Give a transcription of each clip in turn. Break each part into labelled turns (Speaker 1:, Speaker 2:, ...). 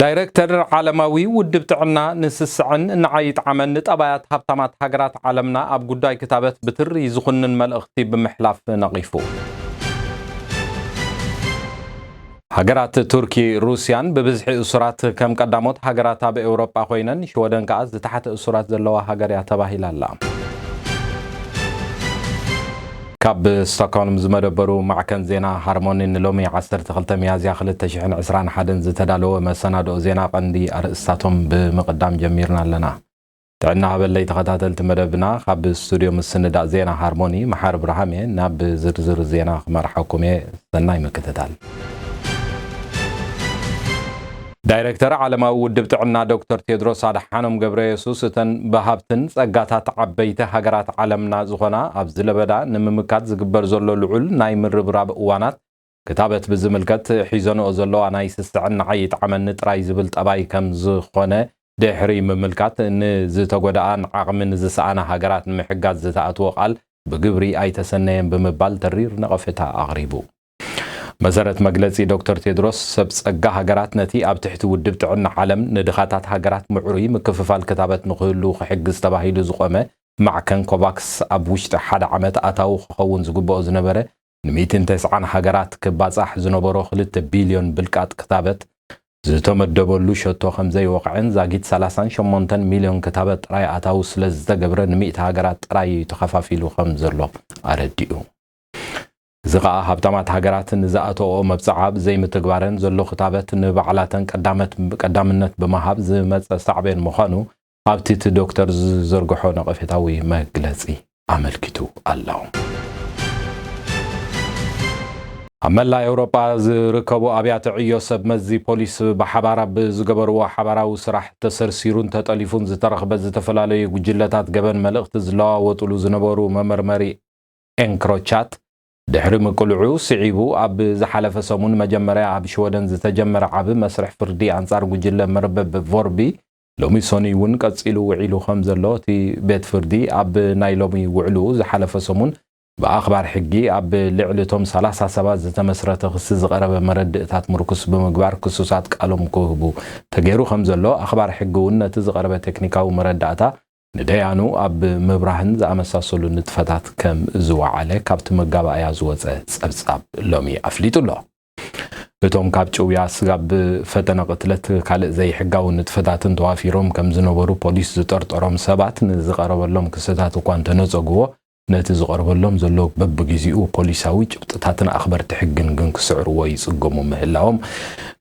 Speaker 1: ዳይረክተር ዓለማዊ ውድብ ጥዕና ንስስዐን ንዓይ ይጥዓመን ንጠባያት ሃብታማት ሃገራት ዓለምና ኣብ ጉዳይ ክታበት ብትሪ ዝኹንን መልእኽቲ ብምሕላፍ ነቒፉ። ሃገራት ቱርኪ ሩስያን ብብዝሒ እሱራት ከም ቀዳሞት ሃገራት ኣብ ኤውሮጳ ኮይነን ሽወደን ከኣ ዝተሓተ እሱራት ዘለዋ ሃገር እያ ተባሂላ ኣላ። ካብ ስቶክሆልም ዝመደበሩ ማዕከን ዜና ሃርሞኒ ንሎሚ ዓሰርተ ክልተ ሚያዝያ ክልተ ሽሕን ዕስራን ሓደን ዝተዳለወ መሰናድኦ ዜና ቀንዲ ኣርእስታቶም ብምቕዳም ጀሚርና ኣለና። ጥዕና ሃበለይ ተኸታተልቲ መደብና ካብ ስቱድዮ ምስንዳእ ዜና ሃርሞኒ መሓሪ ብርሃም እየ። ናብ ዝርዝር ዜና ክመርሓኩም እየ። ሰናይ ምክትታል። ዳይረክተር ዓለማዊ ውድብ ጥዕና ዶክተር ቴድሮስ ኣድሓኖም ገብረየሱስ እተን ብሃብትን ጸጋታት ዓበይቲ ሃገራት ዓለምና ዝኾና ኣብዚ ለበዳ ንምምካት ዝግበር ዘሎ ልዑል ናይ ምርብራብ እዋናት ክታበት ብዝምልከት ሒዘንኦ ዘለዋ ናይ ስስዕን ንዓይ ይጥዓመኒ ጥራይ ዝብል ጠባይ ከም ዝኾነ ድሕሪ ምምልካት ንዝተጎድኣን ዓቕሚ ንዝሰኣና ሃገራት ንምሕጋዝ ዝተኣትዎ ቃል ብግብሪ ኣይተሰነየን ብምባል ተሪር ነቐፌታ ኣቕሪቡ። መሰረት መግለጺ ዶክተር ቴድሮስ፣ ሰብ ጸጋ ሃገራት ነቲ ኣብ ትሕቲ ውድብ ጥዕና ዓለም ንድኻታት ሃገራት ምዕሩይ ምክፍፋል ክታበት ንክህሉ ክሕግዝ ተባሂሉ ዝቖመ ማዕከን ኮቫክስ ኣብ ውሽጢ ሓደ ዓመት ኣታዊ ክኸውን ዝግበኦ ዝነበረ ንሚእትን ተስዓን ሃገራት ክባጻሕ ዝነበሮ ክልተ ቢልዮን ብልቃጥ ክታበት ዝተመደበሉ ሸቶ ከምዘይወቕዐን ዛጊት ሰላሳን ሸሞንተን ሚልዮን ክታበት ጥራይ ኣታዊ ስለዝተገብረ ንሚእቲ ሃገራት ጥራይ እዩ ተኸፋፊሉ ከምዘሎ ኣረዲኡ። እዚ ከኣ ሃብታማት ሃገራት ንዝኣተወኦ መብጽዓ ብዘይምትግባረን ዘሎ ክታበት ንባዕላተን ቀዳምነት ብምሃብ ዝመጸ ሳዕቤን ምዃኑ ኣብቲ እቲ ዶክተር ዝዘርግሖ ነቐፌታዊ መግለጺ ኣመልኪቱ ኣሎ። ኣብ መላእ ኤውሮጳ ዝርከቡ ኣብያተ ዕዮ ሰብ መዚ ፖሊስ ብሓባር ኣብ ዝገበርዎ ሓባራዊ ስራሕ ተሰርሲሩን ተጠሊፉን ዝተረኽበ ዝተፈላለዩ ጉጅለታት ገበን መልእኽቲ ዝለዋወጥሉ ዝነበሩ መመርመሪ ኤንክሮቻት ድሕሪ ምቅልዑ ስዒቡ ኣብ ዝሓለፈ ሰሙን መጀመርያ ኣብ ሽወደን ዝተጀመረ ዓቢ መስርሕ ፍርዲ ኣንጻር ጉጅለ መርበብ ቮርቢ ሎሚ ሰኑይ'ውን ቀጺሉ ውዒሉ ከም ዘሎ እቲ ቤት ፍርዲ ኣብ ናይ ሎሚ ውዕልኡ ዝሓለፈ ሰሙን ብኣኽባር ሕጊ ኣብ ልዕሊ እቶም ሰላሳ ሰባት ዝተመስረተ ክሲ ዝቐረበ መረድእታት ምርኩስ ብምግባር ክሱሳት ቃሎም ክህቡ ተገይሩ ከም ዘሎ ኣኽባር ሕጊ'ውን ነቲ ዝቐረበ ቴክኒካዊ መረዳእታ ንደያኑ ኣብ ምብራህን ዝኣመሳሰሉ ንጥፈታት ከም ዝወዓለ ካብቲ መጋባእያ ዝወጸ ጸብጻብ ሎሚ ኣፍሊጡ ኣሎ። እቶም ካብ ጭውያ ስጋብ ፈተነ ቅትለት ካልእ ዘይሕጋዊ ንጥፈታትን ተዋፊሮም ከም ዝነበሩ ፖሊስ ዝጠርጠሮም ሰባት ንዝቐረበሎም ክስታት እኳ እንተነጸጉዎ፣ ነቲ ዝቐርበሎም ዘሎ በብግዜኡ ፖሊሳዊ ጭብጥታትን ኣኽበርቲ ሕግን ግን ክስዕርዎ ይጽገሙ ምህላዎም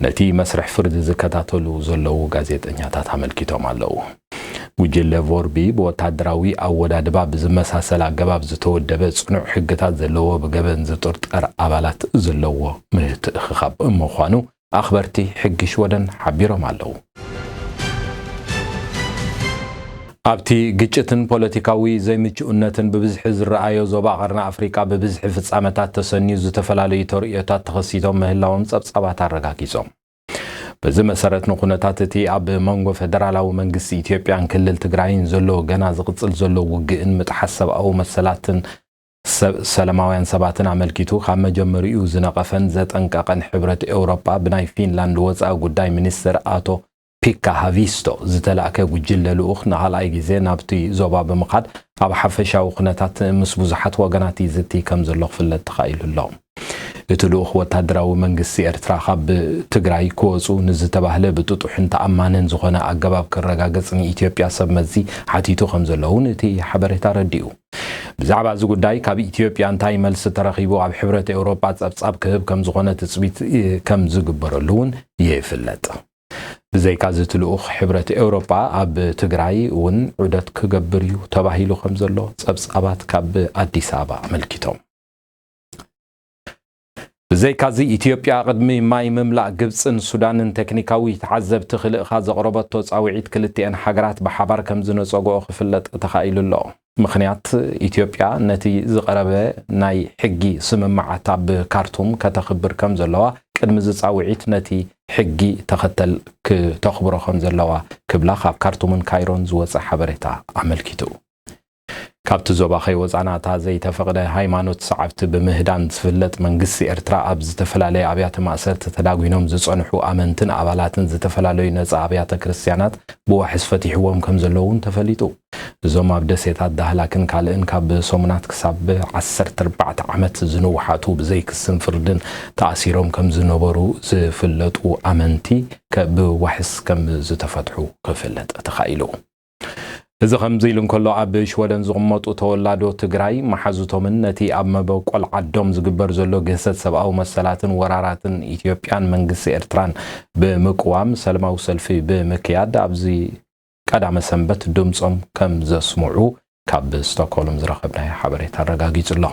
Speaker 1: ነቲ መስርሕ ፍርዲ ዝከታተሉ ዘለዉ ጋዜጠኛታት ኣመልኪቶም ኣለዉ። ጉጅለ ቮርቢ ብወታደራዊ ኣወዳድባ ብዝመሳሰል ኣገባብ ዝተወደበ ጽኑዕ ሕግታት ዘለዎ ብገበን ዝጥርጠር ኣባላት ዘለዎ ምትእኽኻብ ምዃኑ ኣኽበርቲ ሕጊ ሽወደን ሓቢሮም ኣለዉ። ኣብቲ ግጭትን ፖለቲካዊ ዘይምቹእነትን ብብዝሒ ዝረኣዮ ዞባ ቀርኒ ኣፍሪቃ ብብዝሒ ፍጻመታት ተሰንዩ ዝተፈላለዩ ተርእዮታት ተኸሲቶም ምህላዎም ጸብጻባት ኣረጋጊጾም። በዚ መሰረት ንኩነታት እቲ ኣብ መንጎ ፈደራላዊ መንግስቲ ኢትዮጵያን ክልል ትግራይን ዘሎ ገና ዝቕጽል ዘሎ ውግእን ምጥሓስ ሰብኣዊ መሰላትን ሰለማውያን ሰባትን ኣመልኪቱ ካብ መጀመሪኡ ዝነቐፈን ዘጠንቀቐን ሕብረት ኤውሮጳ ብናይ ፊንላንድ ወጻኢ ጉዳይ ሚኒስተር ኣቶ ፒካ ሃቪስቶ ዝተላእከ ጉጅለ ልኡኽ ንካልኣይ ግዜ ናብቲ ዞባ ብምኻድ ኣብ ሓፈሻዊ ኩነታት ምስ ብዙሓት ወገናት ይዝቲ ከምዘሎ ክፍለጥ ተኻኢሉ ኣሎ። እቲ ልኡኽ ወታደራዊ መንግስቲ ኤርትራ ካብ ትግራይ ክወጹ ንዝተባህለ ብጥጡሕን ተኣማንን ዝኾነ ኣገባብ ክረጋገጽ ንኢትዮጵያ ሰብ መዚ ሓቲቱ ከምዘሎ እውን እቲ ሓበሬታ ኣረዲኡ። ብዛዕባ እዚ ጉዳይ ካብ ኢትዮጵያ እንታይ መልሲ ተረኺቡ ኣብ ሕብረት ኤውሮጳ ጸብጻብ ክህብ ከም ዝኾነ ትጽቢት ከም ዝግበረሉ እውን ይፍለጥ። ብዘይካዚ እቲ ልኡኽ ሕብረት ኤውሮጳ ኣብ ትግራይ እውን ዑደት ክገብር እዩ ተባሂሉ ከም ዘሎ ጸብጻባት ካብ ኣዲስ ኣበባ ኣመልኪቶም። ብዘይካዚ ኢትዮጵያ ቅድሚ ማይ ምምላእ ግብጽን ሱዳንን ቴክኒካዊ ተዓዘብቲ ክልእኻ ዘቕረበቶ ጻውዒት ክልቲኤን ሃገራት ብሓባር ከምዝነጸግኦ ክፍለጥ ተኻኢሉ ኣሎ። ምኽንያት ኢትዮጵያ ነቲ ዝቐረበ ናይ ሕጊ ስምምዓት ኣብ ካርቱም ከተኽብር ከምዘለዋ ቅድሚ እዚ ጻውዒት ነቲ ሕጊ ተኸተል ክተኽብሮ ከምዘለዋ ክብላ ካብ ካርቱምን ካይሮን ዝወጸ ሓበሬታ ኣመልኪቱ። ካብቲ ዞባ ከይወጻና እታ ዘይተፈቕደ ሃይማኖት ሰዓብቲ ብምህዳን ዝፍለጥ መንግስቲ ኤርትራ ኣብ ዝተፈላለየ ኣብያተ ማእሰርቲ ተዳጒኖም ዝጸንሑ ኣመንትን ኣባላትን ዝተፈላለዩ ነጻ ኣብያተ ክርስትያናት ብዋሕስ ፈቲሕዎም ከምዘሎ'ውን ተፈሊጡ። እዞም ኣብ ደሴታት ዳህላክን ካልእን ካብ ሰሙናት ክሳብ ዓሰርተ ኣርባዕተ ዓመት ዝንውሓቱ ብዘይ ክስን ፍርድን ተኣሲሮም ከምዝነበሩ ዝፍለጡ ኣመንቲ ብዋሕስ ከምዝተፈትሑ ክፍለጥ ተኻኢሉ። እዚ ከምዚ ኢሉ እንከሎ ኣብ ሽወደን ዝቕመጡ ተወላዶ ትግራይ መሓዙቶምን ነቲ ኣብ መበቆል ዓዶም ዝግበር ዘሎ ግህሰት ሰብኣዊ መሰላትን ወራራትን ኢትዮጵያን መንግስቲ ኤርትራን ብምቅዋም ሰልማዊ ሰልፊ ብምክያድ ኣብዚ ቀዳመ ሰንበት ድምጾም ከም ዘስምዑ ካብ ስቶኮልም ዝረኸብናዮ ሓበሬታ ኣረጋጊጹ ኣሎ።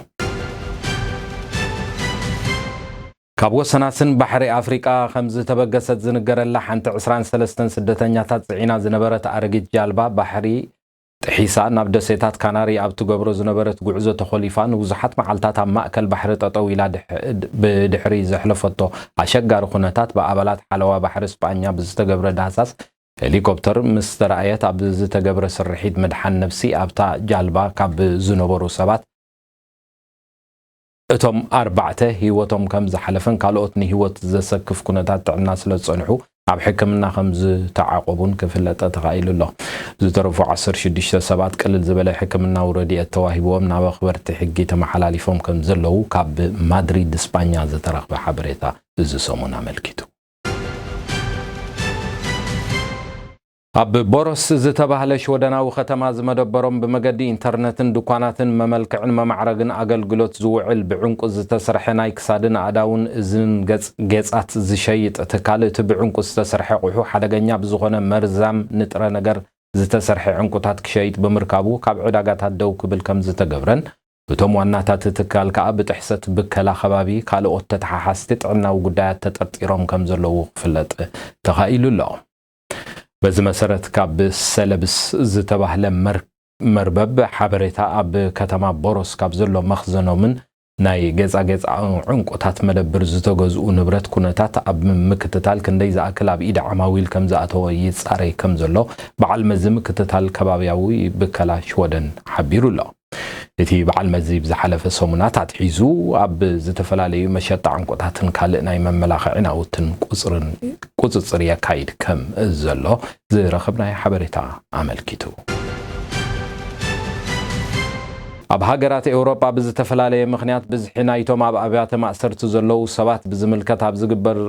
Speaker 1: ካብ ወሰናስን ባሕሪ ኣፍሪቃ ከም ዝተበገሰት ዝንገረላ ሓንቲ ዕስራን ሰለስተን ስደተኛታት ጽዒና ዝነበረት ኣረጊት ጃልባ ባሕሪ ጥሒሳ ናብ ደሴታት ካናሪ ኣብ ትገብሮ ዝነበረት ጉዕዞ ተኾሊፋ ንብዙሓት መዓልታት ኣብ ማእከል ባሕሪ ጠጠው ኢላ ብድሕሪ ዘሕለፈቶ ኣሸጋሪ ኩነታት ብኣባላት ሓለዋ ባሕሪ ስጳኛ ብዝተገብረ ዳህሳስ ሄሊኮፕተር ምስ ተራእየት ኣብ ዝተገብረ ስርሒት ምድሓን ነብሲ ኣብታ ጃልባ ካብ ዝነበሩ ሰባት እቶም ኣርባዕተ ህይወቶም ከም ዝሓለፈን ካልኦት ንህይወት ዘሰክፍ ኩነታት ጥዕና ስለ ዝጸንሑ ኣብ ሕክምና ከም ዝተዓቖቡን ክፍለጠ ተኻኢሉ ኣሎ። ዝተረፉ ዓሰርተ ሽዱሽተ ሰባት ቅልል ዝበለ ሕክምናዊ ረድኤት ተዋሂብዎም ናብ ኣኽበርቲ ሕጊ ተመሓላሊፎም ከም ዘለዉ ካብ ማድሪድ ስጳኛ ዝተረኽበ ሓበሬታ እዚ ሰሙን ኣመልኪቱ። ኣብ ቦሮስ ዝተባህለ ሽወደናዊ ከተማ ዝመደበሮም ብመገዲ ኢንተርነትን ድኳናትን መመልክዕን መማዕረግን ኣገልግሎት ዝውዕል ብዕንቊ ዝተስርሐ ናይ ክሳድን ኣእዳውን እዝንን ገጽ ጌጻት ዝሸይጥ ትካል እቲ ብዕንቊ ዝተስርሐ ቑሑ ሓደገኛ ብዝኾነ መርዛም ንጥረ ነገር ዝተሰርሐ ዕንቊታት ክሸይጥ ብምርካቡ ካብ ዕዳጋታት ደው ክብል ከምዝተገብረን እቶም ዋናታቲ ትካል ከኣ ብጥሕሰት ብከላ ከባቢ ካልኦት ተተሓሓዝቲ ጥዕናዊ ጉዳያት ተጠርጢሮም ከምዘለዉ ክፍለጥ ተኻኢሉ ኣሎ። በዚ መሰረት ካብ ሰለብስ ዝተባህለ መርበብ ሓበሬታ ኣብ ከተማ ቦሮስ ካብ ዘሎ መኽዘኖምን ናይ ጌጻጌጽ ዕንቊታት መደብር ዝተገዝኡ ንብረት ኩነታት ኣብ ምክትታል ክንደይ ዝኣክል ኣብ ኢድ ዓማዊል ከም ዝኣተወ ይጻረይ ከም ዘሎ በዓል መዚ ምክትታል ከባብያዊ ብከላ ሽወደን ሓቢሩ ኣሎ። እቲ በዓል መዚ ብዝሓለፈ ሰሙናት ኣትሒዙ ኣብ ዝተፈላለዩ መሸጣ ዕንቁታትን ካልእ ናይ መመላኽዒ ናውትን ቁፅፅር የካይድ ከም ዘሎ ዝረኸብናዮ ሓበሬታ ኣመልኪቱ። ኣብ ሃገራት ኤውሮጳ ብዝተፈላለየ ምኽንያት ብዝሒ ናይቶም ኣብ ኣብያተ ማእሰርቲ ዘለዉ ሰባት ብዝምልከት ኣብ ዝግበር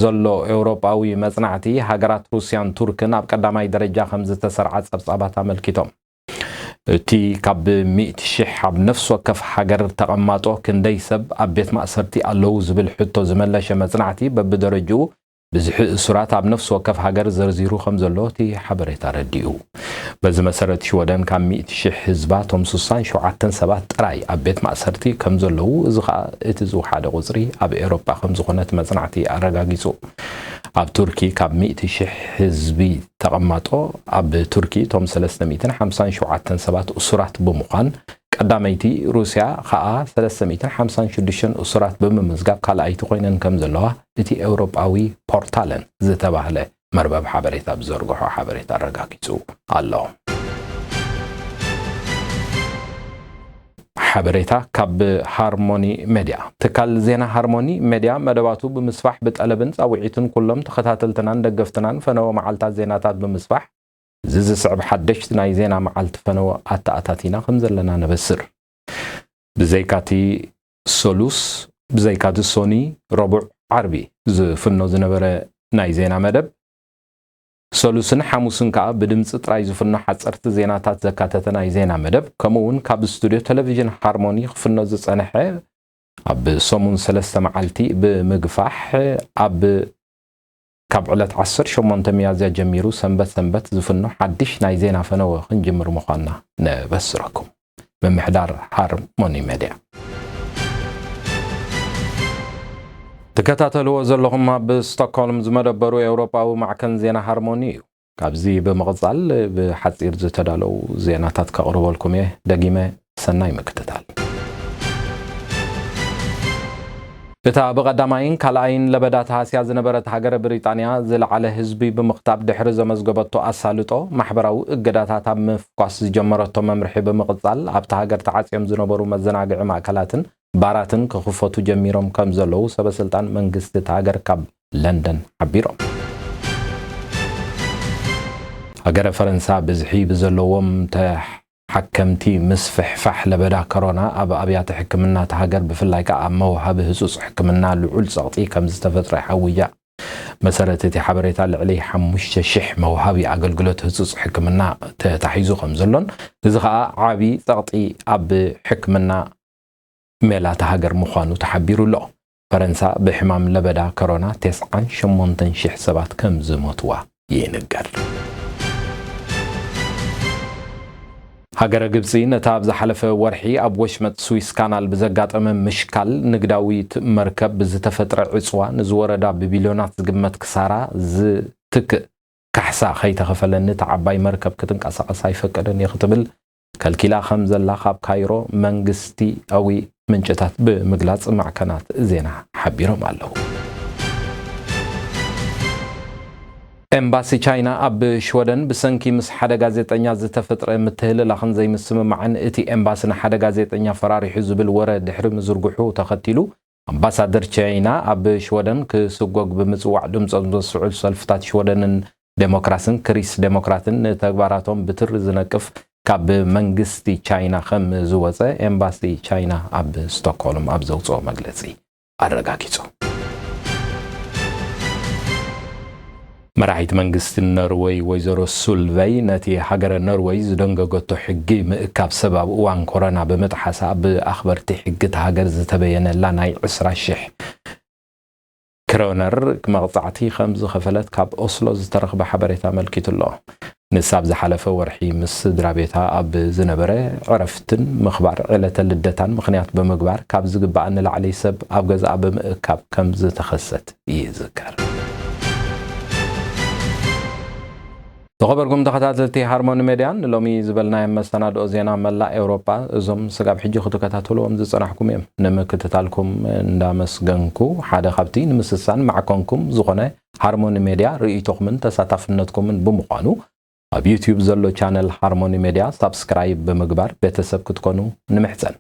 Speaker 1: ዘሎ ኤውሮጳዊ መጽናዕቲ ሃገራት ሩስያን ቱርክን ኣብ ቀዳማይ ደረጃ ከም ዝተሰርዓ ጸብጻባት ኣመልኪቶም። እቲ ካብ ሚእቲ ሽሕ ኣብ ነፍሲ ወከፍ ሃገር ተቐማጦ ክንደይ ሰብ ኣብ ቤት ማእሰርቲ ኣለዉ ዝብል ሕቶ ዝመለሸ መጽናዕቲ በብደረጅኡ ብዝሒ እሱራት ኣብ ነፍሲ ወከፍ ሃገር ዘርዚሩ ከም ዘሎ እቲ ሓበሬታ ኣረዲኡ። በዚ መሰረት ሽወደን ካብ ሚእቲ ሽሕ ህዝባ እቶም ስሳን ሸውዓተን ሰባት ጥራይ ኣብ ቤት ማእሰርቲ ከም ዘለዉ እዚ ከኣ እቲ ዝውሓደ ቁጽሪ ኣብ ኤሮጳ ከም ዝኾነ እቲ መጽናዕቲ ኣረጋጊጹ። ኣብ ቱርኪ ካብ ሚእቲ ሽሕ ህዝቢ ተቐማጦ ኣብ ቱርኪ እቶም ሰለስተ ሚእትን ሓምሳን ሸውዓተን ሰባት እሱራት ብምዃን ቀዳመይቲ ሩስያ ኸኣ ሰለስተ ሚእትን ሓምሳን ሽዱሽተን እሱራት ብምምዝጋብ ካልኣይቲ ኮይነን ከም ዘለዋ እቲ ኤውሮጳዊ ፖርታለን ዝተባህለ መርበብ ሓበሬታ ብዘርግሖ ሓበሬታ ኣረጋጊጹ ኣሎ። ሓበሬታ ካብ ሃርሞኒ መዲያ። ትካል ዜና ሃርሞኒ መዲያ መደባቱ ብምስፋሕ ብጠለብን ጻውዒትን ኩሎም ተኸታተልትናን ደገፍትናን ፈነወ መዓልታት ዜናታት ብምስፋሕ እዚ ዝስዕብ ሓደሽቲ ናይ ዜና መዓልቲ ፈነወ ኣተኣታቲና ከምዘለና ነበስር። ብዘይካቲ ሰሉስ፣ ብዘይካቲ ሶኒ፣ ረቡዕ፣ ዓርቢ ዝፍኖ ዝነበረ ናይ ዜና መደብ፣ ሰሉስን ሓሙስን ከኣ ብድምጺ ጥራይ ዝፍኖ ሓጸርቲ ዜናታት ዘካተተ ናይ ዜና መደብ ከምኡ'ውን ካብ ስቱድዮ ተለቪዥን ሃርሞኒ ክፍኖ ዝጸንሐ ኣብ ሰሙን ሰለስተ መዓልቲ ብምግፋሕ ኣብ ካብ ዕለት ዓሰርተ ሸሞንተ ሚያዝያ ጀሚሩ ሰንበት ሰንበት ዝፍኖ ሓድሽ ናይ ዜና ፈነወ ክንጅምር ምዃንና ነበስረኩም። ምምሕዳር ሃርሞኒ መድያ ትከታተልዎ ዘለኹም ኣብ ስቶክሆልም ዝመደበሩ ኤውሮጳዊ ማዕከን ዜና ሃርሞኒ እዩ ካብዚ ብምቕጻል ብሓጺር ዝተዳለው ዜናታት ከቕርበልኩም እየ ደጊመ ሰናይ ምክትታል እታ ብቐዳማይን ካልኣይን ለበዳ ተሃስያ ዝነበረት ሃገረ ብሪጣንያ ዝለዓለ ህዝቢ ብምኽታብ ድሕሪ ዘመዝገበቶ ኣሳልጦ ማሕበራዊ እገዳታት ኣብ ምፍኳስ ዝጀመረቶ መምርሒ ብምቕጻል ኣብታ ሃገር ተዓጽዮም ዝነበሩ መዘናግዒ ማእከላትን ባራትን ክኽፈቱ ጀሚሮም ከምዘለዉ ሰበስልጣን መንግስቲ እታ ሃገር ካብ ለንደን ሓቢሮም። ሃገረ ፈረንሳ ብዝሒ ብዘለዎም ሓከምቲ ምስፍሕፋሕ ለበዳ ከሮና ኣብ ኣብያተ ሕክምና እታ ሃገር ብፍላይ ከኣ ኣብ መውሃቢ ህጹጽ ሕክምና ልዑል ጸቕጢ ከምዝተፈጥረ ይሓውያ። መሰረት እቲ ሓበሬታ ልዕሊ ሓሙሽተ ሽሕ መውሃቢ ኣገልግሎት ህጹጽ ሕክምና ተታሒዙ ከምዘሎን እዚ ከኣ ዓቢ ጸቕጢ ኣብ ሕክምና ሜላ እታ ሃገር ምዃኑ ተሓቢሩ ኣሎ። ፈረንሳ ብሕማም ለበዳ ከሮና ተስዓን ሸሞንተን ሽሕ ሰባት ከም ዝሞትዋ ይንገር። ሃገረ ግብጺ ነታ ኣብ ዝሓለፈ ወርሒ ኣብ ወሽመጥ ስዊስ ካናል ብዘጋጠመ ምሽካል ንግዳዊት መርከብ ብዝተፈጥረ ዕጽዋ ንዝወረዳ ብቢልዮናት ዝግመት ክሳራ ዝትክእ ካሕሳ ከይተኸፈለኒ እታ ዓባይ መርከብ ክትንቀሳቐስ ኣይፈቅድን እየ ክትብል ከልኪላ ከም ዘላ ካብ ካይሮ መንግስቲኣዊ ምንጭታት ብምግላጽ ማዕከናት ዜና ሓቢሮም ኣለዉ። ኤምባሲ ቻይና ኣብ ሽወደን ብሰንኪ ምስ ሓደ ጋዜጠኛ ዝተፈጥረ ምትህልላኽን ዘይምስምማዕን እቲ ኤምባሲ ንሓደ ጋዜጠኛ ፈራሪሑ ዝብል ወረ ድሕሪ ምዝርግሑ ተኸቲሉ ኣምባሳደር ቻይና ኣብ ሽወደን ክስጎግ ብምጽዋዕ ድምጾም ዘስዕሉ ሰልፍታት ሽወደንን ደሞክራስን ክሪስ ደሞክራትን ንተግባራቶም ብትሪ ዝነቅፍ ካብ መንግስቲ ቻይና ከም ዝወጸ ኤምባሲ ቻይና ኣብ ስቶክሆልም ኣብ ዘውጽኦ መግለጺ ኣረጋጊጹ። መራሒት መንግስቲ ኖርወይ ወይዘሮ ሱልቨይ ነቲ ሃገረ ኖርወይ ዝደንገገቶ ሕጊ ምእካብ ሰብ ኣብ እዋን ኮረና ብምጥሓሳ ብኣኽበርቲ ሕጊ እታ ሃገር ዝተበየነላ ናይ ዕስራ ሽሕ ክሮነር መቕጻዕቲ ከምዝኸፈለት ካብ ኦስሎ ዝተረኽበ ሓበሬታ ኣመልኪቱ'ሎ። ንሳ ኣብ ዝሓለፈ ወርሒ ምስ ስድራቤታ ኣብ ዝነበረ ዕረፍትን ምኽባር ዕለተ ልደታን ምኽንያት ብምግባር ካብ ዝግበኣ ንላዕሊ ሰብ ኣብ ገዝኣ ብምእካብ ከም ዝተኸሰት ይዝከር። ዝኸበርኩም ተኸታተልቲ ሃርሞኒ ሜድያ ንሎሚ ዝበልናዮም መሰናድኦ ዜና መላእ ኤውሮጳ እዞም ስጋብ ሕጂ ክትከታተልዎም ዝጸናሕኩም እዮም። ንምክትታልኩም እንዳመስገንኩ ሓደ ካብቲ ንምስሳን ማዕኮንኩም ዝኾነ ሃርሞኒ ሜድያ ርእይቶኹምን ተሳታፍነትኩምን ብምዃኑ ኣብ ዩትዩብ ዘሎ ቻነል ሃርሞኒ ሜድያ ሳብስክራይብ ብምግባር ቤተሰብ ክትኮኑ ንምሕጸን።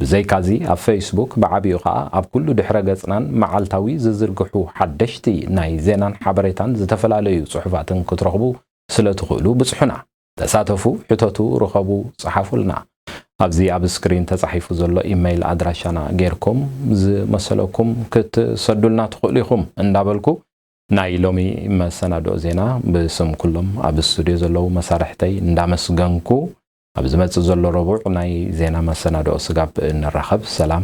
Speaker 1: ብዘይካዚ ኣብ ፈይስቡክ ብዓቢኡ ከኣ ኣብ ኩሉ ድሕረ ገጽናን መዓልታዊ ዝዝርግሑ ሓደሽቲ ናይ ዜናን ሓበሬታን ዝተፈላለዩ ጽሑፋትን ክትረኽቡ ስለ ትኽእሉ ብጽሑና። ተሳተፉ፣ ሕተቱ፣ ርኸቡ፣ ጽሓፉልና። ኣብዚ ኣብ ስክሪን ተጻሒፉ ዘሎ ኢመይል ኣድራሻና ጌርኩም ዝመሰለኩም ክትሰዱልና ትኽእሉ ኢኹም እንዳበልኩ፣ ናይ ሎሚ መሰናድኦ ዜና ብስም ኩሎም ኣብ ስቱድዮ ዘለዉ መሳርሕተይ እንዳመስገንኩ፣ ኣብ ዝመጽእ ዘሎ ረቡዕ ናይ ዜና መሰናድኦ ስጋብ እንራኸብ ሰላም